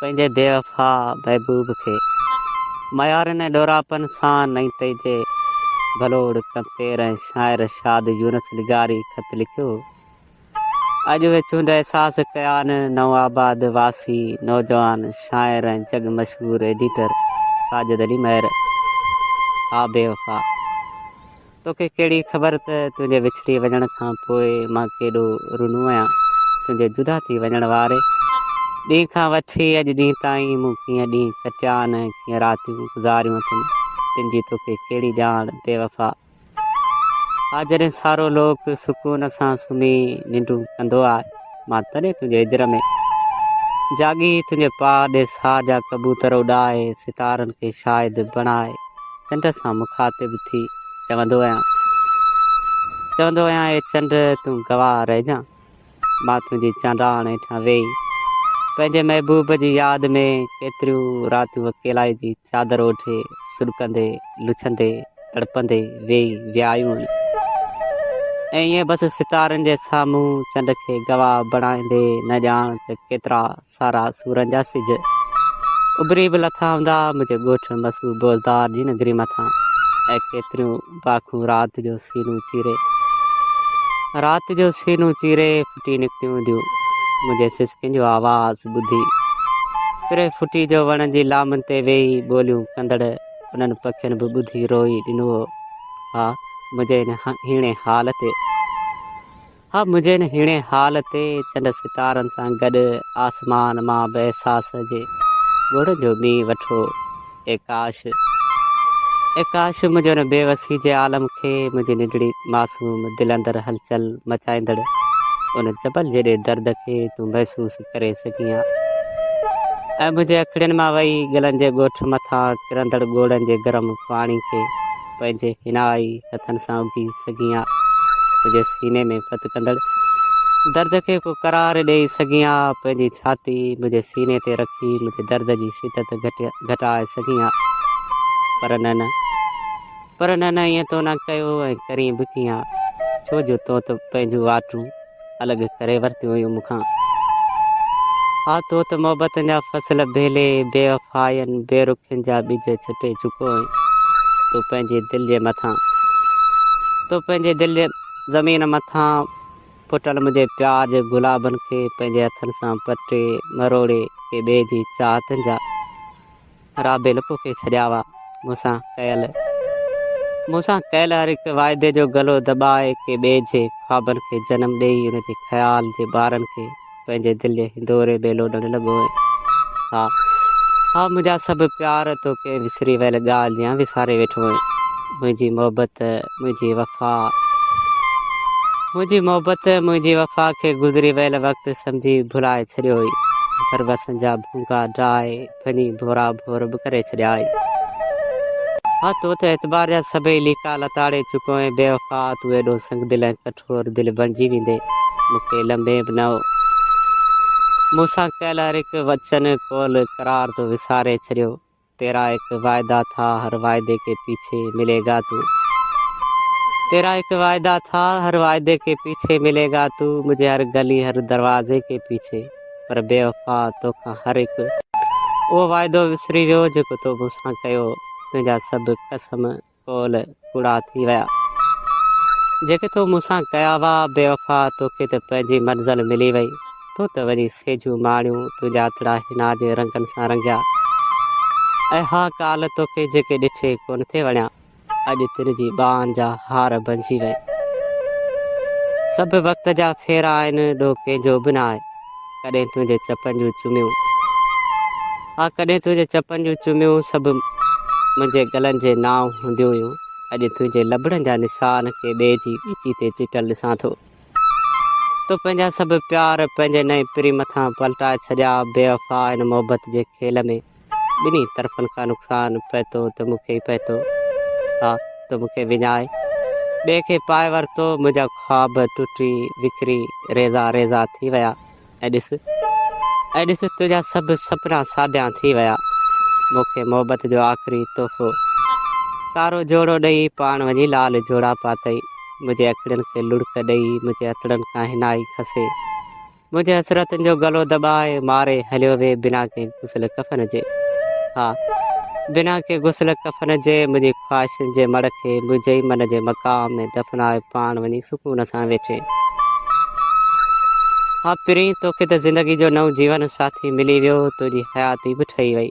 پنهنجي بي وفا محبوب کي ميارين ۽ ڏوراپن سان نئين ٽهي جي ڀلوڙ ڪمپير ۽ شاعر شاد يونس لغاري خط لکيو هو. اڄ به چونڊ احساس ڪيا آهن نوآباد واسي نوجوان شاعر ۽ جڳ مشهور ايڊيٽر ساجد علي مهر آ بي وفا توکي ڪهڙي خبر ته تنهنجي وڇڙي وڃڻ کان پوء مان ڪيڏو رونو آهيان تنهنجي جدا ٿي وڃڻ واري ڏينهن کان وٺي اڄ ڏينهن تائين مون ڪيئن ڏينهن ڪٽيا آهن ڪيئن راتيون گذاريون اٿم تن جي توکي ڪهڙي ڄاڻ بي وفا آ جڏهن سارو لوڪ سڪون سان سمهي ننڊون ڪندو آ، مان تڏهن تنهنجي هجر ۾ جاڳي تنهنجي پاء ڏي ساهه جا ڪبوتر اڏائي ستارن کي شاهد بڻائي چنڊ سان مخاطب ٿي چوندو آهيان چوندو آهيان اي چنڊ تون گواهه رهجان. مان تنهنجي چانڊاڻ هيٺان ويهي پنهنجي محبوب جي ياد ۾ ڪيتريون راتيون اڪيلائي جي چادر اوڍي سڏڪندي لڇندي تڙپندي ويهي ويايون ۽ ائين بس ستارن جي سامهون چنڊ کي گواهه بڻائيندي نه ڄاڻ ته ڪيترا سارا سورن جا سج اڀري به لٿا هوندا منهنجي ڳوٺ مسو بوزدار جي نگري مٿان ۽ ڪيتريون پاکون رات جو سينون چيري رات جو سينون چيري ڦٽي نڪتيون هونديون منهنجي سسڪين جو آواز ٻڌي پري ڦٽي جو وڻن جي لامن تي ويهي ٻوليون ڪندڙ انهن پکين به ٻڌي روئي ڏنو هو ها منهنجي هن هيڻي حال تي ها منهنجي هن هيڻي حال تي چنڊ ستارن سان گڏ آسمان مان به احساس جي ڳوڙهن جو مينهن وٺو اي ڪاش اي ڪاش منهنجي هن بي وسي جي عالم کي منهنجي ننڍڙي معصوم دل اندر هلچل مچائيندڙ ان جبل جيڏي درد کي تون محسوس ڪري سگهين ها ۽ منهنجي اکڙين مان وهي گلن جي ڳوٺ مٿان ڪرندڙ ڳوڙهن جي گرم پاڻي کي پنهنجي هينائي هٿن سان اگهي سگهين ها، پنهنجي سيني ۾ ڦٿ ڪندڙ درد کي ڪو قرار ڏيئي سگهين ها، پنهنجي ڇاتي منهنجي سيني تي رکي منهنجي درد جي شدت گهٽائي سگهين ها، پر نه نه پر نه نه ائين تو نه ڪيو ۽ ڪرين به ڪيئن ها، ڇو جو تون ته پنهنجون واٽون الڳ ڪري ورتيون هيون مون کان. آء تو ته محبتن جا فصل بيلي، بي وفائين، بي رخين جا ٻج ڇٽي چڪو هئين. تون پنهنجي دل جي مٿان، تون پنهنجي دل جي زمين مٿان ڦٽل منهنجي پيار جي گلابن کي پنهنجي هٿن سان پٽي، مروڙي، ڪي ٻئي جي چاهتن جا. رابعي لڪو ڪئي ڇڏيا هئا. مون سان ڪيل مون سان ڪيل هر هڪ واعدي جو گلو دٻائي ڪنهن ٻئي جي خوابن کي جنم ڏيئي ان جي خيال جي ٻارن کي پنهنجي دل جي هندوري ۾ لوڏڻ لڳو هئين. ها ها منهنجا سڀ پيار تون ڪنهن وسري ويل ڳالهه جيان وساري ويٺو هئين. منهنجي محبت منهنجي وفا منهنجي محبت منهنجي وفا کي گذري ويل وقت سمجهي ڀلائي ڇڏيو هئي پر وسن جا ڀونگا ڊاهي ڦني ڀورا ڀور به ڪري ڇڏيا آهي. ها تو ته اعتبار جا سڀئي ليڪا لتاڙي چڪو ۽ بي وفا تون ايڏو سنگ دل ۽ ڪٺور دل بڻجي ويندي مون کي لنبين به نه هو مون سان ڪيل هر هڪ وچن قول قرار تو وساري ڇڏيو تيرا ايڪ واعدا ٿا هر واعدي ڪي پيڇي ملي گا تو تيرا ايڪ واعدا ٿا هر واعدي ڪي پيڇي ملي گا تو مجھي هر گلي هر دروازي ڪي پيڇي پر بي وفا تو کان هر هڪ اهو واعدو وسري ويو جيڪو تو مون سان ڪيو تنهنجا سڀ قسم قول ڪوڙا ٿي ويا جيڪي تو مون سان ڪيا هئا بي وفا توکي ته پنهنجي منزل ملي وئي تو ته وڃي سيجون ماڻيون تنهنجا اتڙا حنا جي رنگن سان رنگيا اي ها ڪالهه توکي جيڪي ڏٺي ڪونه ٿي وڻيا. اڄ تن جي ٻانهن جا هار بنجي ويا. سڀ وقت جا ڦيرا آهن، ڏوهه ڪنهن جو به نه آهي. ڪڏهن تنهنجي چپن جون چميون. ها ڪڏهن تنهنجي چپن جون چميون سڀ منهنجي گلن جي نانء هونديون هيون. اڄ تنهنجي لبڙن جا نشان ڪنهن ٻئي جي ڳچي تي چٽل ڏسان ٿو. تو پنهنجا سڀ پيار پنهنجي نئين پري مٿان پلٽائي ڇڏيا. بيوفا هن محبت جي کيل ۾. ٻنهي طرفن کان نقصان پهتو ته مون کي ئي پهتو آ تو مون کي وڃائي ٻئي کي پائي ورتو منهنجا خواب ٽٽي وکري ريزا ريزا ٿي ويا ۽ ڏس ۽ ڏس تنهنجا سڀ سپنا ساڍيان ٿي ويا مون کي محبت جو آخري تحفو ڪارو جوڙو ڏئي پاڻ وڃي لال جوڙا پاتئي منهنجي اکڙين کي لڙڪ ڏئي منهنجي هٿڙن کان هنائي کسي منهنجي حسرتن جو گلو دٻائي ماري هليو وي بنا ڪنهن غسل ڪفن جي ها بنا ڪنهن غسل ڪفن جي منهنجي خواهشن جي مڙ کي منهنجي ئي من جي مقام ۾ دفنائي پاڻ وڃي سڪون سان ويٺي ها پرين توکي ته زندگي جو نئون جيون ساٿي ملي ويو تنهنجي حياتي به ٺهي وئي